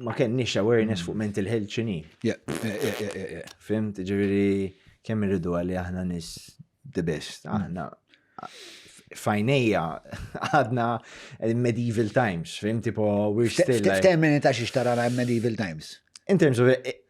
ma kenniex awareness fuq mental health xini. Fimt, ġiviri, kemm irridu għalli aħna nis the best, mm. aħna fajnija għadna eh, medieval times, fim tipo we're still. F'termini ta' xiex tarana medieval times. In terms of eh,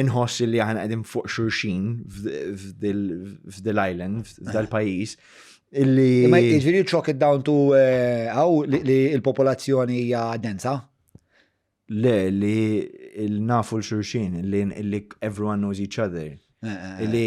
inħoss li aħna qegħdin fuq xurxin f'dil island, f'dal pajjiż. Illi. Ma jiġri ċok id-down to eh, għaw li l-popolazzjoni hija densa? Le, li nafu l-xurxin, li everyone knows each other. Eh, eh, li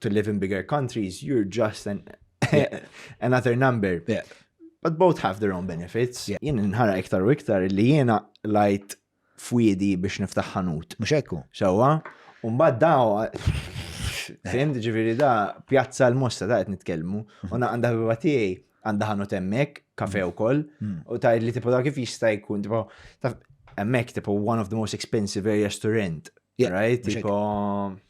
to live in bigger countries, you're just an, yeah. another number. Yeah. But both have their own benefits. Yeah. Jien nħara iktar u iktar li jiena lajt fwidi biex niftaħ ħanut. Mux ekku. Xawa, un-bad daw, fimt ġiviri da, pjazza l-mosta ta' għet nitkelmu, mhm. unna għanda biba tiegħi għanda ħanu temmek, kafe mhm. u koll, mhm. u ta' li tipo da' kif jista' jkun, tipo, ta' emmek, tipo, one of the most expensive areas to rent, right? Tipo,